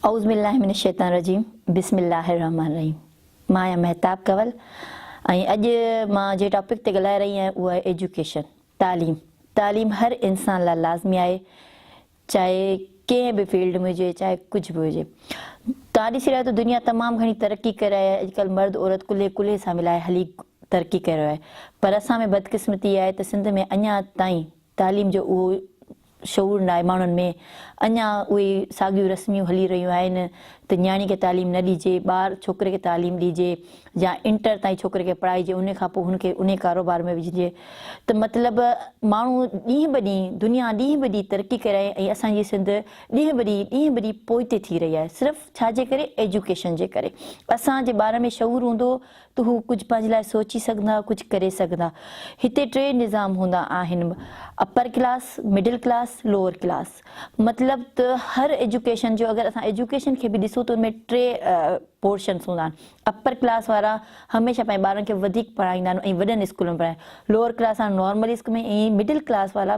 اعوذبالله من الشيطان الرجيم بسم الله الرحمٰن الرحيم مان آهيان مهتاب ڪنول ۽ اڄ مان جنهن ٽاپڪ تي ڳالهائي رهي آهيان اهو آهي ايجوڪيشن تعليم تعليم هر انسان لاء لازمي آهي چاهي ڪنهن به فيلڊ ۾ هجي چاهي ڪجهه به هجي توهان ڏسي رهيا ته دنيا تمام گهڻي ترقي ڪري رهي آهي اڄڪلهه مرد عورت ڪلهي ڪلهي سان ملائي هلي ترقي ڪري رهيو آهي پر اسان ۾ بدقسمتي اها آهي ته سنڌ ۾ اڃا تائين تعليم جو اهو شعور ناهي ماڻهن ۾ اڃا اهي ساڳيون رسميون هلي رهيون آهن ته نياڻي کي تعليم نه ڏجي ٻار ڇوڪري کي تعليم ڏجي يا انٽر تائين ڇوڪري کي پڙهائجي انهي کان پوء هن کي انهي ڪاروبار ۾ وجهجي ته مطلب ماڻهو ڏينهن به ڏينهن دنيا ڏينهن به ڏينهن ترقي ڪري رهي ۽ اسان جي سنڌ ڏينهن به ڏينهن ڏينهن به ڏينهن پوئتي ٿي رهي آهي صرف ڇا جي ڪري ايجوڪيشن جي ڪري اسان جي ٻارن ۾ شعور هوندو ته هو ڪجهه پنهنجي لاء سوچي سگهندا، ڪجهه ڪري سگهندا. هتي ٽي نظام هوندا آهن، upper class, middle class, lower class. مطلب ته هر ايجوڪيشن جو اگر اسان ايجوڪيشن کي به ڏسون ته ان ۾ ٽي پورشنس هوندا آهن. اپر ڪلاس وارا هميشه پنهنجي ٻارن کي وڌيڪ پڙهائيندا آهن ۽ وڏن اسڪول ۾ پڙهائيندا آهن. لوئر ڪلاس وارا نارمل اسڪول ۾ ۽ مڊل ڪلاس وارا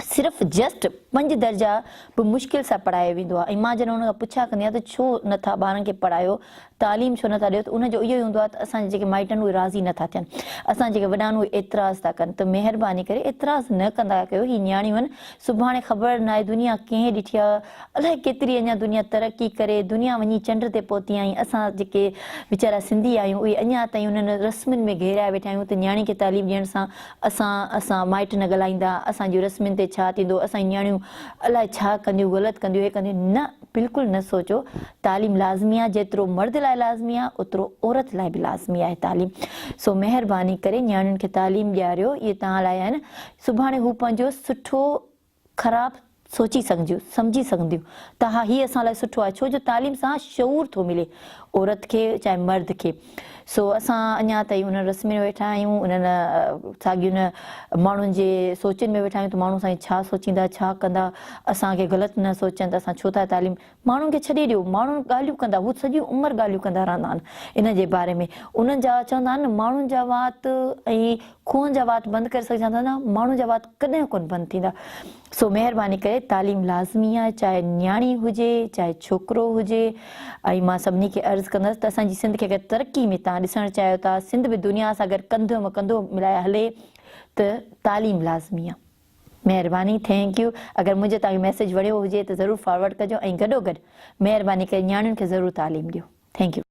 صرف جسٽ پنج درجا به مشڪل سان پڙهايو ويندو آهي ۽ مان جڏهن ان کان پڇا ڪندي آهيان ته ڇو نه ٿا ٻارن کي پڙهايو تعليم ڇو نه ٿا ڏيو ته ان جو اهو ئي هوندو آهي ته اسان جا جيڪي مائٽ آهن اهي راضي نه ٿا ٿين اسان جيڪي وڏا آهن اهي اعتراض ٿا ڪن ته مهرباني ڪري اعتراض نه ڪندا ڪيو هي نياڻيون آهن سڀاڻي خبر ناهي دنيا ڪنهن ڏٺي آهي الائي ڪيتري اڃا دنيا ترقي ڪري دنيا وڃي چنڊ تي پهتي ۽ اسان جيڪي ويچارا سنڌي آهيون اهي اڃا تائين انهن رسمن ۾ گهيريا ويٺا آهيون ته نياڻي کي تعليم ڏيڻ سان اسان اسان مائٽ نه ڳالهائيندا، اسان جون رسمين تي ڇا ٿيندو، اسان جون نياڻيون الاء ڇا ڪنديون، غلط ڪنديون، هي ڪنديون، نه بلڪل نه سوچو، تعليم لازمي آهي، جيترو مرد لاء لازمي آهي، اوترو عورت لاء به لازمي آهي تعليم، سو مهرباني ڪري نياڻين کي تعليم ڏياريو، اهي توهان لاء آهن، سڀاڻي هو پنهنجو سٺو. خراب سوچي سگهنديون، سمجهي سگهنديون ته ها هي اسان لاء سٺو آهي ڇو جو تعليم سان شعور ٿو ملي عورت کي چاهي مرد کي سو اسان اڃا تائين انهن رسمين ۾ ويٺا آهيون انهن ساڳين ماڻهن جي سوچين ۾ ويٺا آهيون ته ماڻهو سائين ڇا سوچيندا ڇا ڪندا اسان کي غلط نه سوچين ته اسان ڇو ٿا تعليم ماڻهن کي ڇڏي ڏيو، ماڻهن ڳالهيون ڪندا، هو سڄي عمر ڳالهيون ڪندا رهندا آهن ان جي باري ۾، انهن جا چوندا آهن نه ماڻهن جا وات ۽ کوهن جا وات بند ڪري سگهجان ٿا نه ماڻهن جا وات ڪڏهن ڪونه بند ٿيندا سو مهرباني ڪري تعليم لازمي آهي چاهي نياڻي هجي چاهي ڇوڪرو هجي ۽ مان سڀني کي عرض ڪندس ته اسان جي سنڌ کي اگر ترقي ۾ تان ڏسڻ چاهيو ٿا سنڌ به دنيا سان اگر ڪنڌ م ڪنڌو ملائي هلي ته تعليم لازمي آهي. مهرباني ٿينڪ يو اگر منهنجو توهان کي ميسيج وڻيو هجي ته ضرور فارورڊ ڪجو ۽ گڏو گڏ مهرباني ڪري نياڻين کي ضرور تعليم ڏيو ٿينڪ يو.